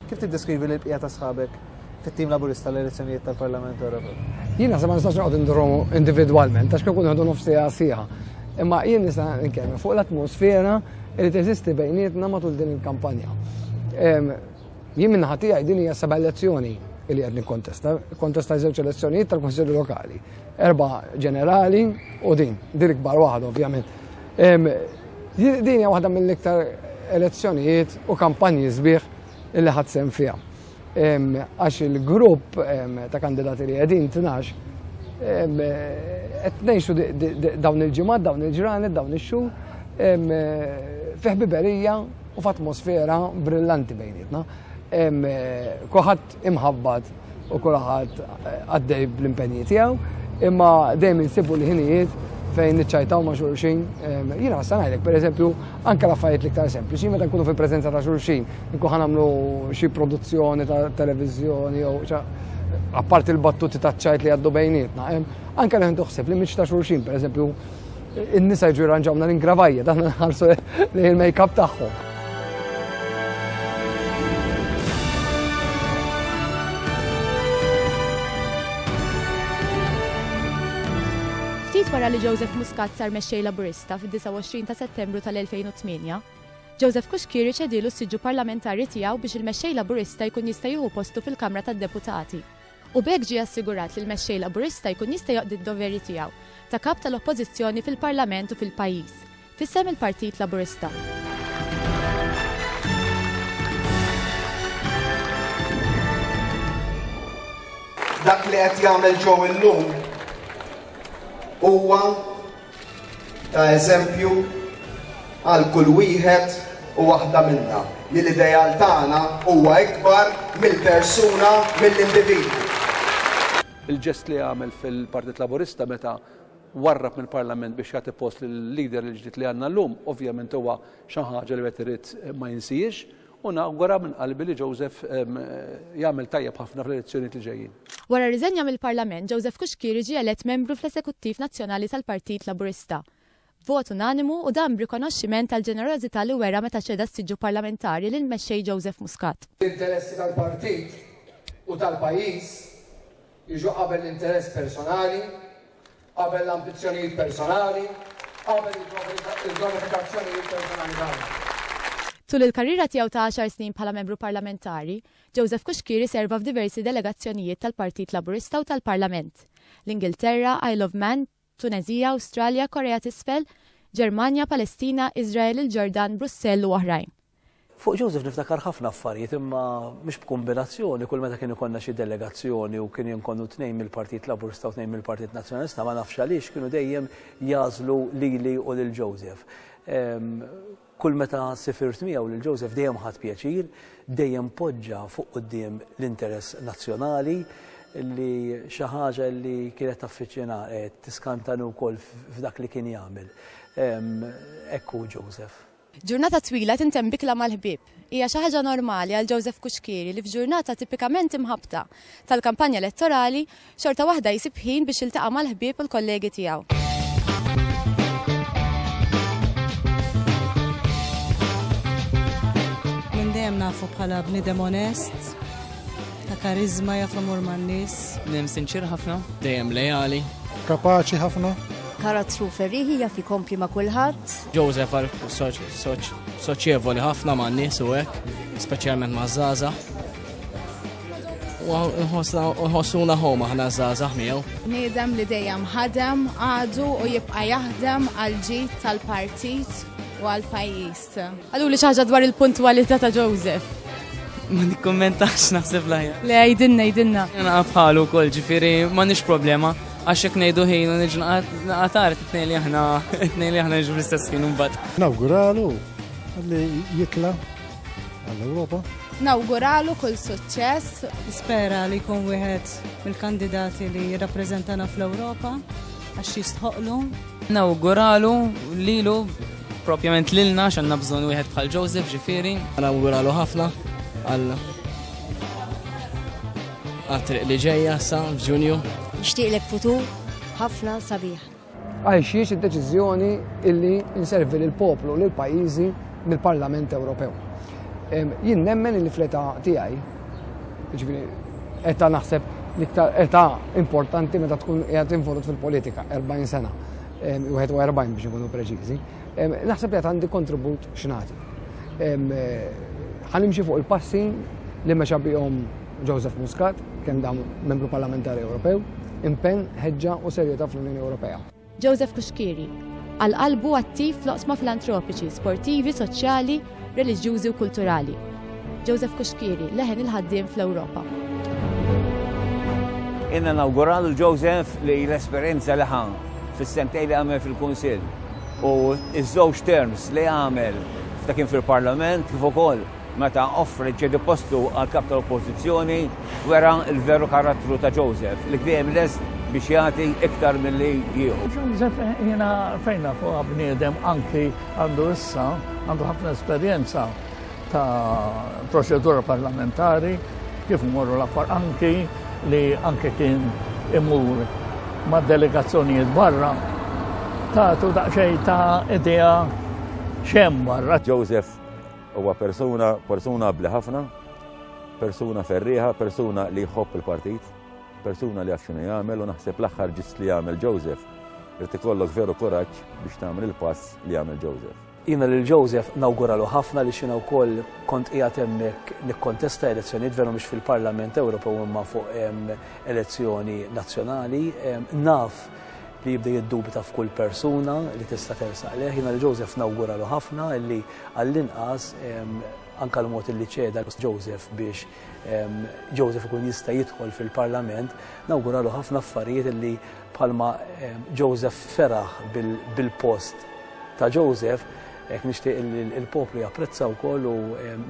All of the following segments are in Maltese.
Kif tiddeskrivi lill-bqija ta' sħabek fit-tim Laburista l-elezzjonijiet tal-Parlament Ewropew? Jien naħseb ma nistax noqgħod indurhom individwalment għax kien ikun ħadu nofs sija sija. Imma jien nista' nkellem fuq l-atmosfera li teżisti bejnietna matul din il-kampanja. Jien minn ħati din hija seba' elezzjoni li qed nikkontesta, kontesta żewġ elezzjonijiet tal-Kunsilli Lokali. Erba' ġenerali u din, din l-ikbar waħda ovvjament. Din hija waħda mill-iktar elezzjonijiet u kampanji sbieħ li ħadd sem fiha. Għax il-grupp ta' kandidati li qegħdin tnax qed ngħixu dawn il-ġimgħat, dawn il-ġranet, dawn ix-xhur fi ħbiberija u f'atmosfera brillanti bejnietna. Kuħadd imħabbat u kulħadd għaddej bl-impenji tiegħu, imma dejjem insibu li ħinijiet fejn niċċajtaw ma' xulxin. Jiena għassa ngħidlek, per eżempju, anke l-affarijiet l-iktar sempliċi, meta nkunu fil-preżenza ta' xulxin, nkun ħanamlu xi produzzjoni ta' televiżjoni jew apparti l-battuti ta' ċajt li għaddu bejnietna. Anke li ħintu ħsib li miċ ta' xulxin, per eżempju, in-nisa jiġu jirranġawna l-ingravajja, dan nħarsu li il-make-up tagħhom. Ftit wara li Joseph Muscat sar mexxej Laburista fid-29 ta' Settembru tal-2008, Joseph Kuxkiri ċedilu s-siġġu parlamentari tiegħu biex il-mexxej Laburista jkun jista' jieħu postu fil-Kamra tad-Deputati. u b'hekk ġie assigurat li l-Mexxej Laburista jkun jista' joqdi d-doveri tiegħu ta' Kap tal-Oppożizzjoni fil-Parlament u fil-pajjiż, f'isem il-Partit Laburista. dak li qed jagħmel Joe illum huwa ta' eżempju għal kull wieħed u waħda minna li l-ideal tagħna huwa ikbar mill-persuna, mill-individwu. Il-ġest li għamel fil-Partit Laburista meta warrab mill-Parlament biex jagħti post lill-leader il-ġdid li għandna llum, ovvjament huwa xi ħaġa li wieħed irid ma jinsihiex U nawgura minn qalbi li Joseph jagħmel tajjeb ħafna fl-elezzjonijiet li ġejjin. Wara r-riżenja mill-Parlament, Joseph Cuschieri ġie elett membru fl-Eżekuttiv Nazzjonali tal-Partit Laburista b'vot unanimu u dan b'rikonoxximent għall-ġenerożità li wera meta ċeda s-siġġu parlamentari lill-Mexxej Joseph Muscat. L-interessi tal-Partit u tal-pajjiż jiġu qabel l-interess personali. Qabel l-ambizzjonijiet personali, qabel il-granifikazzjonijiet personali tagħna. Tul il-karriera tiegħu ta' għaxar snin bħala Membru Parlamentari, Joseph Cuschieri serva f'diversi delegazzjonijiet tal-Partit Laburista u tal-Parlament, l-Ingilterra, Isle of Man, Tuneżija, Awstralja, Korea t'Isfel, Ġermanja, Palestina, Iżrael, il-Ġordan, Brussell u oħrajn. Fuq Joseph niftakar ħafna affarijiet imma mhux b'kumbinazzjoni kull meta kien ikollna xi delegazzjoni u kien jinkonnu tnejn mill-Partit Laburista u tnejn mill-Partit Nazzjonalista ma nafx għaliex kienu dejjem jagħżlu lili u lil Joseph. Kull meta sifirt miegħu lil Joseph dejjem ħadt pjaċir, dejjem poġġa fuq quddiem l-interess nazzjonali li xi ħaġa li kienet taffiċjina tiskantani wkoll f'dak li kien jagħmel. Hekk hu Joseph. Ġurnata twila tintemm b'ikla mal-ħbieb. Hija xi ħaġa normali għal Joseph Cuschieri li f'ġurnata tipikament imħabbta tal-kampanja elettorali, xorta waħda jsib ħin biex jiltaqa' mal-ħbieb u l-kollegi tiegħu. Minn dejjem nafu bħala bniedem onest, ta' kariżma, jaf imur man-nies. Bniedem sinċier ħafna, dejjem leali. Kapaċi ħafna. Karattru ferrieħi, jaf ikompli ma' kulħadd. Joseph għal soċjevoli ħafna ma' nies u hekk, speċjalment ma' Zaza. U nħossuna ħoma ħna Zaza miegħu. Niedem li dejjem ħadem għadu u jibqa' jaħdem għal ġid tal-partit u għal pajjiż. Għallu li xaħġa dwar il-puntwalità ta' Joseph. Ma nikkommentax naħseb lajja. Le, jidinna, jidinna. Jena bħalu kol ġifiri, ma nix problema. Għax jekk ngħidu ħin u niġu naqatar tnejn li aħna tnejn li aħna niġu fl-istess ħin imbagħad. Nawguralu li jitla għall-Ewropa. Nawguralu kull suċċess. Spera li jkun wieħed mill-kandidati li jirrappreżentana fl-Ewropa għax jistħoqlu. Nawguralu lilu propjament lilna x'għandna bżonn wieħed bħal Joseph ġifieri. Nawguralu ħafna għal Għat-triq li ġejja sa f'Ġunju. Nixtieqlek futur ħafna sabiħ. Għajxiex id-deċiżjoni illi inservi lill poplu lill pajjiżi mill-Parlament Ewropew. Jien nemmen illi fl-età tiegħi, ġifieri età naħseb l-iktar età importanti meta tkun qiegħed involut fil-politika, 40 sena, 41 biex ikunu preċiżi, Naħseb li għad għandi kontribut x'nagħti. Ħanimxi fuq il-passi li mexa bihom Joseph Muscat, kemm dam membru parlamentari Ewropew, impenn, ħeġġa u serjetà fl-Unjoni Ewropea. Joseph Cuschieri, għal qalbu attiv fl-oqsma filantropiċi, sportivi, soċjali, reliġjużi u kulturali. Joseph Kuxkieri, leħen il-ħaddiem fl-Ewropa. Inna nawguralu Joseph li l-esperjenza li ħan fis-sentej li għamel fil-Kunsill u iż-żewġ terms li għamel ta' kien fil-Parlament kif ukoll meta offri ċedi postu għal kap tal-Oppożizzjoni wera l-veru karattru ta' Joseph li dejjem lest biex jagħti iktar milli jieħu. Joseph jiena fejna fuq bniedem anki Għandu issa għandu ħafna esperjenza ta' proċedura parlamentari kif morru l-affar anki li anki kien imur ma' delegazzjonijiet barra ta' tu daqxej ta' idea xem barra. Joseph huwa persuna, persuna abli ħafna, persuna ferriħa, persuna li jħobb il-partit. Persuna li jaf x'inhu jagħmel u naħseb l-aħħar ġist li jagħmel Joseph irid ikollok veru kuraġġ biex tagħmel il-pass li jagħmel Joseph. Jiena lil Joseph nawguralu ħafna li xina wkoll kont qiegħed hemmhekk nikkontesta elezzjonijiet veru mhux fil-Parlament Ewropew imma fuq elezzjoni nazzjonali. Naf li jibda jiddubita f'kull persuna li tista' tersaq leħ. Jina li Joseph nawguralu ħafna li għall-inqas anka l-mod li ċeda Joseph biex Joseph ikun jista' jidħol fil-Parlament, nawguralu ħafna affarijiet li bħalma Joseph feraħ bil-post ta' Joseph, hekk nixtieq il-poplu japprezza wkoll u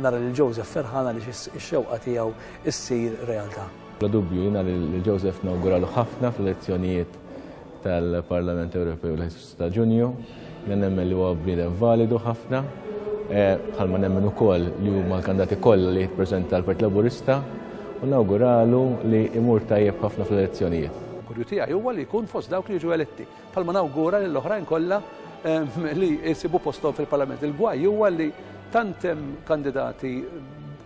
nara lil Joseph ferħana li x-xewqa tiegħu issir realtà. Bla dubju jiena lil Joseph nawguralu ħafna fl-elezzjonijiet tal-Parlament Ewropew li ta' Ġunju, li nemmen li huwa bniedem validu ħafna, eh, bħalma nemmen ukoll li huma l-kandati kollha li jippreżenta l-Partit Laburista u nawguralu li imur tajjeb ħafna fl-elezzjonijiet. Kurju tiegħi huwa li jkun fost dawk li jiġu eletti, bħalma nawgura lill oħrajn kollha ehm, li jsibu posthom fil-Parlament. Il-gwaj huwa li tant hemm kandidati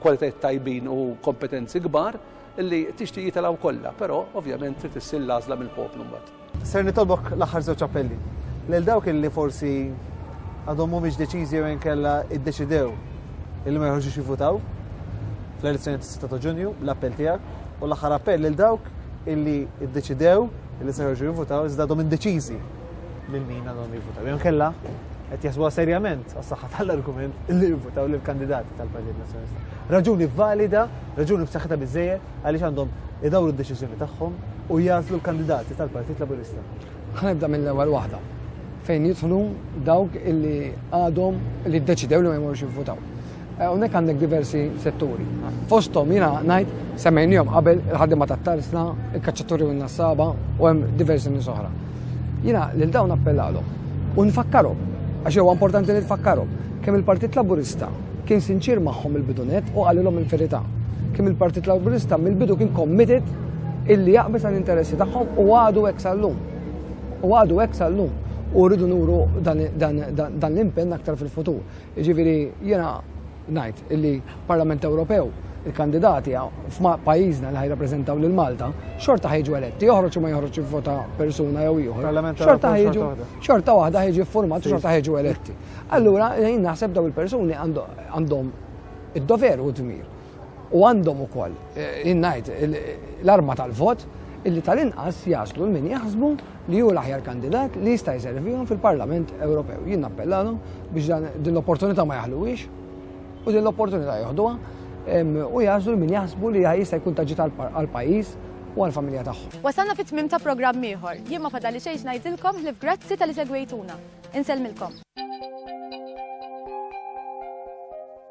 kwalitajiet tajbin u kompetenzi kbar li tixtieq jitilgħu kollha, però ovvjament trid issir l-għażla mill-poplu mbagħad. Ser nitolbok l-aħħar żewġ appelli. Lil dawk illi forsi għadhom mhumiex deċiżi jew inkella iddeċidew illi ma jħorġux jivvutaw fl-elezzjoni tas-6 ta' Ġunju, l-appell tiegħek u l-aħħar appell lil dawk illi iddeċidew illi se jħorġu jivvutaw iżda għadhom indeċiżi lil min għadhom jivvutaw. Jew inkella qed jasbuha serjament għas-saħħa tal-argument li jivvutaw lill-kandidati tal-Partit Nazzjonalista. Raġuni valida, raġuni b'saħħitha biżejjed għaliex għandhom idawru d-deċiżjoni tagħhom u jagħżlu l-kandidati tal-Partit Laburista. Ħanibda mill-ewwel waħda fejn jidħlu dawk illi għadhom li ddeċidew li ma jmorux jivvutaw. Eh, hawnhekk għandek diversi setturi. Fosthom jiena ngħid semmejnihom qabel il-ħaddiema tat-tarsna, il-kaċċaturi u n-nassaba u hemm diversi nies oħra. Jiena lil dawn appellalhom u nfakkarhom, għax huwa importanti li tfakkarhom, kemm il-Partit Laburista kien sinċier magħhom mill-bidu nett u qalilhom il-verità. Kemm il-Partit Laburista mill-bidu kien committed illi jaqbeż għall-interessi tagħhom u għadu hekk sal-lum. U għadu hekk sal-lum. U rridu nuru dan l-impenn aktar fil-futur. Jiġifieri jiena ngħid illi Parlament Ewropew il-kandidati f'pajjiżna li ħajrappreżentaw lil Malta xorta ħejġu eletti, joħroġ u ma joħroġ jivvota persuna jew ieħor. Xorta ħejġu xorta waħda ħejġi ffurmat u xorta ħejġu eletti. Allura jien naħseb daw il-persuni għandhom id-dover u d-dmir. U għandhom ukoll, jien ngħid, l-arma tal-vot illi tal-inqas jaslu l-min jaħsbu li hu l-aħjar kandidat li jista' jservihom fil-Parlament Ewropew. Jien nappellalhom biex din l-opportunità ma jaħluwiex u din l-opportunità joħduha u jażlu min jaħsbu li jista' jkun taġġit għall-pajjiż u għall-familja tagħhom. Wasalna fit-tmiem ta' programm ieħor. Jien ma fadalli xejn x'ngħidilkom ħlief grazzi talli segwejtuna. Insellmilkom.